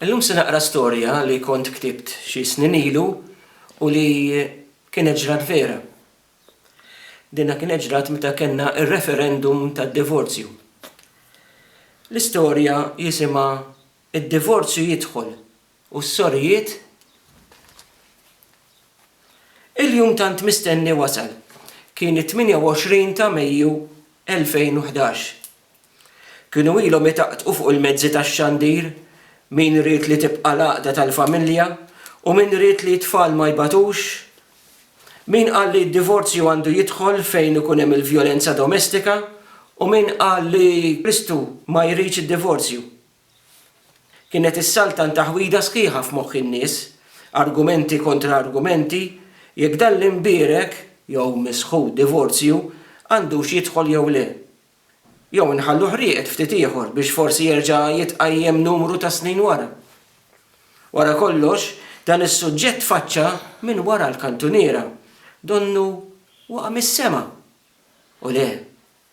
Illum se naqra storja li kont ktibt xi snin ilu u li kienet ġrat vera. Dinha kienet ġrat meta kellna r-referendum tad-divorzju. L-istorja jisimha Id-Divorzju Jidħol u s-Sorijiet Il-jum tant mistenni wasal. Kien it-28 ta' Mejju 2011. Kienu ilhom itaqtqu fuq il-mezzi tax-xandir, min ried li tibqa' l-għaqda tal-familja u min ried li t-tfal ma jbatux? Min qal li d-divorzju għandu jidħol fejn ikun hemm il-vjolenza domestika u min qal li Kristu ma jridx id-divorzju? Kienet issaltan taħwida sħiħa f'moħħ in-nies, argumenti kontra argumenti, jekk dan l-imbierek, jew misħud divorzju, għandux jidħol jew le. Jew inħalluh rieqed ftit ieħor biex forsi jerġa' jitqajjem numru ta' snin wara? Wara kollox, dan is-suġġett tfaċċa minn wara l-kantuniera, donnu waqa' mis-sema. U le,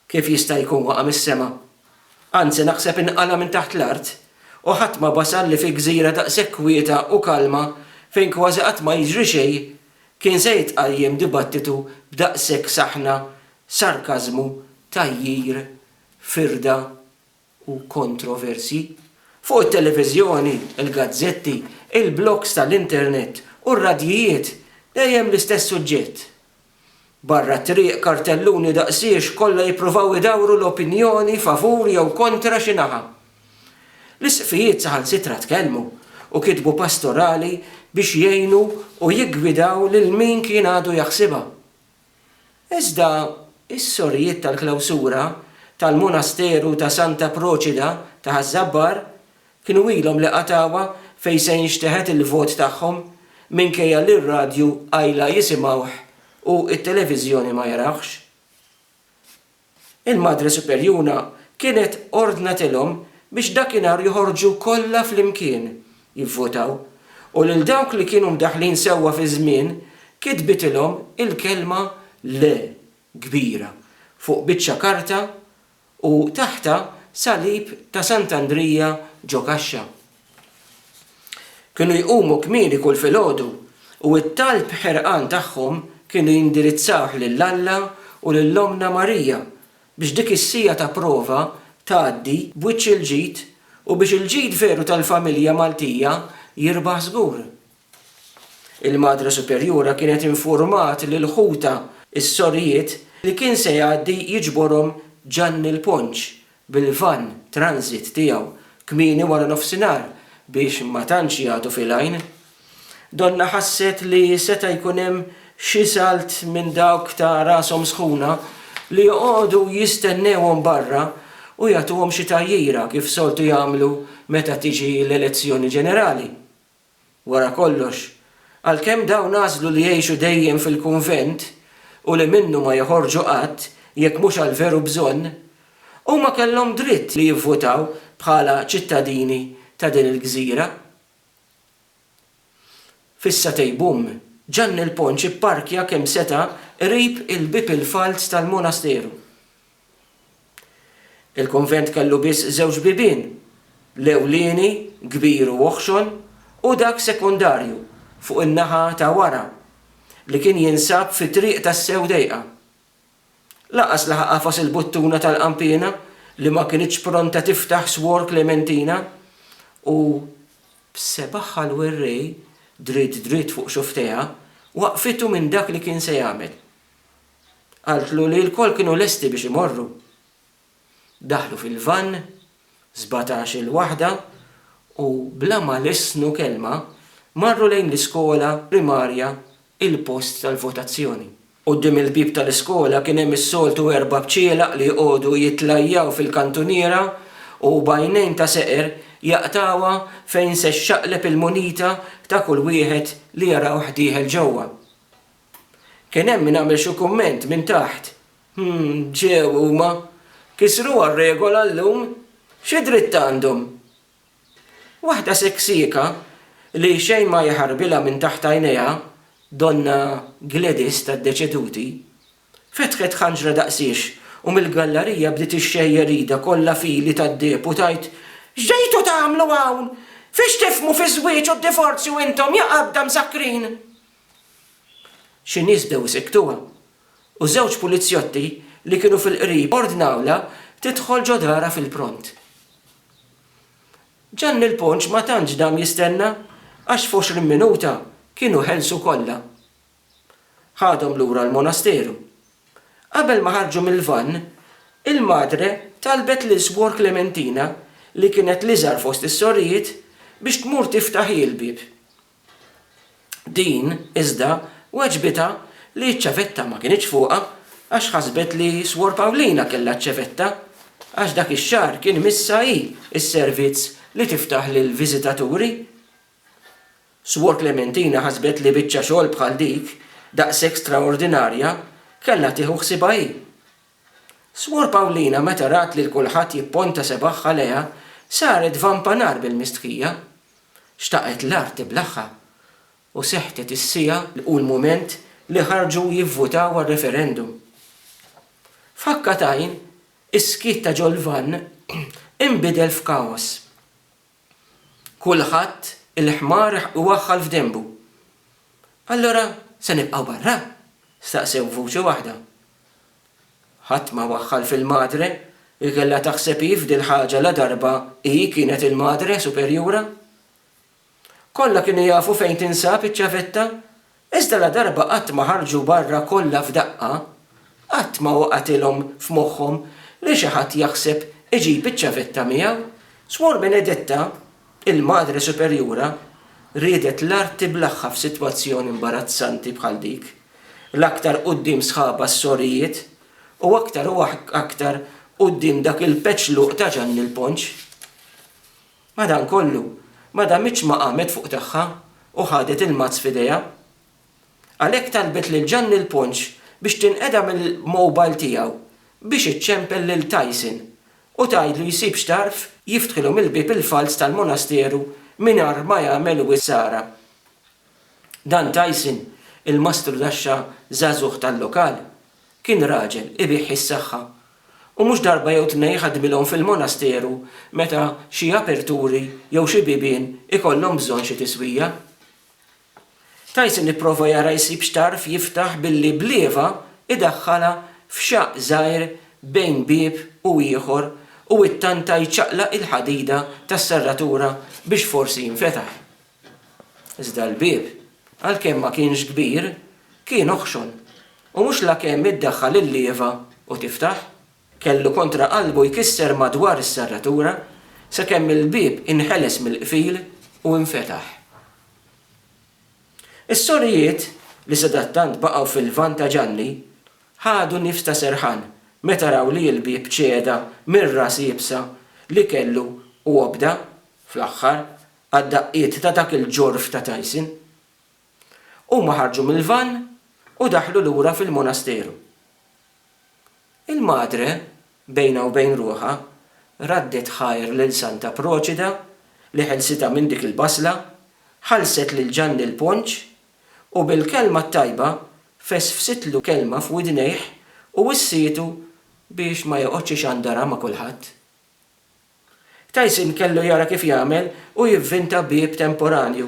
kif jista' jkun waqa' mis-sema? Anzi naħseb inqala' minn taħt l-art, u ħadd ma basar li fi gżira daqshekk kwieta u kalma fejn kważi qatt ma jiġri xejn Kien se jitqajjem dibattitu b'daqshekk saħna, sarkażmu, tgħajjir, firda u kontroversji? Fuq it-televiżjoni, il-gazzetti, il-blogs tal-internet u r-radjijiet dejjem l-istess suġġett. Barra t-triq, kartelluni daqsiex kollha jippruvaw idawru l-opinjoni favur jew kontra xi naħa. L-isqfijiet saħansitra tkellmu u kitbu pastorali biex jgħinu u jiggwidaw lil min kien għadu jaħsibha. Iżda, is-sorijiet tal-klawsura tal-Monasteru ta' Santa Proċida ta' Ħaż-Żabbar Kienu ilhom li qatgħuha fejn se jinxteħet il-vot tagħhom minkejja li r-radju qajla jisimgħuh u t-televiżjoni ma jarawhx. Il-Madre Superjuna kienet ordnatilhom biex dakinhar joħorġu kollha flimkien jivvotaw u lil dawk li kienu mdaħħlin sewwa fiż-żmien kitbitilhom il-kelma Le kbira fuq biċċa karta u taħtha salib ta' Sant'Andrija ġo kaxxa. Kienu jqumu kmieni kull filgħodu u t-talb ħerqan tagħhom kienu jindirizzawh lil Alla u lil Ommna Marija biex dik is-siegħa ta' prova tgħaddi b'wiċċ il-ġid u biex il-ġid veru tal-familja Maltija jirbaħ żgur. Il-Madre Superjura kienet infurmat lil ħutha, is-sorijiet, li kien se jgħaddi jiġborhom Ġanni l-Ponċ bil-vann transit tiegħu kmieni wara nofsinhar biex ma tantx jagħtu fil-għajn. Donna ħasset li seta' jkun hemm xi salt minn dawk ta' rashom sħuna li joqogħdu jistennewhom barra u jagħtuhom xi tgħajjira kif soltu jagħmlu meta tiġi l-elezzjoni ġenerali. Wara kollox, għalkemm dawn għażlu li jgħixu dejjem fil-kunvent u li minnu ma joħorġu qatt jekk mhux għal veru bżonn, huma kellhom dritt li jivvutaw bħala ċittadini ta' din il-gżira. Fis-Satay Boom, Ġanni l-Ponċ ipparkja kemm seta' qrib il-bieb il-falz tal-monasteru. Il-kunvent kellu biss żewġ bibien, l-ewlieni, kbir u oħxon, u dak sekondarju, fuq in-naħa ta' wara, li kien jinsab fi Triq tassew dejqa. Lanqas laħaq għafas il-buttuna tal-qanpiena li ma kinitx pronta tiftaħ Swor Klementina u, b'sebgħha l-werrej dritt dritt fuq xufftejha, waqqfitu minn dak li kien se jagħmel. Qaltlu li lkoll kienu lesti biex imorru. Daħlu fil-vann, sbatax il-waħda, u bla ma lissnu kelma marru lejn l-iskola primarja il-post tal-votazzjoni. Quddiem il-bieb tal-iskola kien hemm is-soltu erba' bċielaq li jqogħdu jitlajjaw fil-kantuniera u b'għajnejn ta' seqer jaqtgħuha fejn se xxaqleb il-munita ta' kull wieħed li jarawh dieħel ġewwa. Kien hemm min għamel xi kumment minn taħt, Hm, ġew huma. Kisruha r-regola llum? Xi dritt għandhom? Waħda seksieka li xejn ma jħarbilha minn taħt għajnejha, Donna Gladys tad-deċeduti, fetħet ħanġra daqsiex u mill-gallarija bdiet ixxejjer idha kollha f'ili tad-deheb u tgħid, X'ġejtu tagħmlu hawn? Fiex tifhmu fiż-żwieġ u d-divorzju intom, ja qadda msakkrin! Xi nies bdew isiktuha, u żewġ pulizjotti li kienu fil-qrib ordnawlha tidħol ġo darha fil-pront. Ġanni l-Ponċ ma tantx dam jistenna għax f'għoxrin minuta kienu ħelsu kollha. Ħadhom lura l-monasteru. Qabel ma ħarġu mill-vann, il-Madre talbet lil Swor Klementina, li kienet l-iżgħar fost is-sorijiet, biex tmur tiftaħ hi l-bieb. Din, iżda, weġbitha li ċ-ċavetta ma kinitx fuqha għax ħasbet li Swor Pawlina kellha ċ-ċevetta għax dak ix-xahar kien imissha hi s-servizz li tiftaħ lill-viżitaturi. Swor Klementina ħasbet li biċċa xogħol bħal dik, daqshekk straordinarja, kellha tieħu ħsiebha hi. Smur Pawlina meta rat lil kulħadd jipponta sebgħha lejha saret vampa nar bil-mistħija. Xtaqet l-art tiblaħha. U sehtet is-siegħa u l-mument li ħarġu jivvutaw għar-referendum. F'ħakka t'għajn, is-skiet ta' ġol-vann inbidel f'kaos. Kulħadd il-ħmar iwaħħal f'denbu. Allura se nibqgħu barra? staqsew b'vuċi waħda. Ħadd ma waħħal fil-Madre li kellha taħseb hi f'dil-ħaġa ladarba hi kienet il-Madre Superjura. Kollha kienu jafu fejn tinsab iċ-ċavetta Iżda ladarba qatt ma ħarġu barra kollha f'daqqa, qatt ma waqgħetilhom f'moħħhom li xi ħadd jaħseb iġib iċ-ċavetta miegħu. Swor Benedetta, il-Madre Superjura, riedet l-art tiblaħħa f'sitwazzjoni imbarazzanti bħal dik, l-aktar quddiem sħabha s-sorijiet u aktar u aktar quddiem dak il-peċluq ta' Ġanni l-Ponċ. Madankollu, ma damitx ma qamet fuq tagħha u ħadet il-mazz f'idejha. Għalhekk talbet lil Ġanni l-Ponċ biex tinqeda mill-mowbajl tiegħu biex iċċempel lil Tyson u tgħidlu jsib xtarf jiftħilhom il-bieb il-falz tal-monasteru mingħarr ma jagħmel wisq ħsara. Dan Tyson, il-mastru taxxa żagħżugħ tal-lokal, Kien raġel ibigħ is-saħħa u mhux darba jew tnejn ħadmilhom fil-monasteru meta xi aperturi jew xi bibien ikollhom bżonn xi tiswija. Tyson ipprova jara jsib x'tarf jiftaħ billi b'lieva idaħħalha f'xaqq żgħir bejn bieb u ieħor u ittanta jċaqlaq il-ħadida tas-serratura biex forsi jinfetaħ. Iżda l-bieb, għalkemm ma kienx kbir, kien oħxon, u mhux lakemm iddaħħal il-lieva u tiftaħ, kellu kontra qalbu jkisser madwar is-serratura, sakemm il-bieb inħeles mill-qfil u infetaħ. Is-sorijiet, li sadattant baqgħu fil-lvant ta' Ġanni, ħadu nifs ta' serħan meta raw li l-bieb ċeda mir-ras iebsa li kellu u obda, fl-aħħar, Għad-daqqiet ta' dak il-ġorf ta' Tyson, huma ħarġu mill-vann u daħlu lura fil-monasteru. Il-Madre, bejnha u bejn ruħha, raddet ħajr lil Santa Proċida li ħelsitha minn dik il-basla, ħallset lil Ġanni l-ponċ, u bil-kelma t-tajba fesfsitlu kelma f'widnejh u wissietu biex ma joqgħodx ixandarha ma' kulħadd. Tyson kellu jara kif jagħmel u jivvinta bieb temporanju,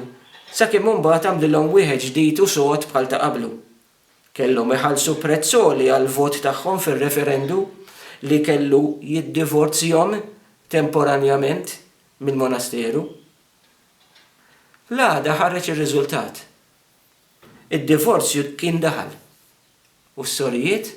sakemm imbagħad għamlilhom wieħed ġdid u sod bħal ta' qablu. Kellhom iħallsu prezz għoli għall-vot tagħhom fir-referendu li kellu jiddivorzjhom temporanjament mill-monasteru. L-għada ħareġ ir-riżultat. Id-divorzju kien daħal u s-sorijiet?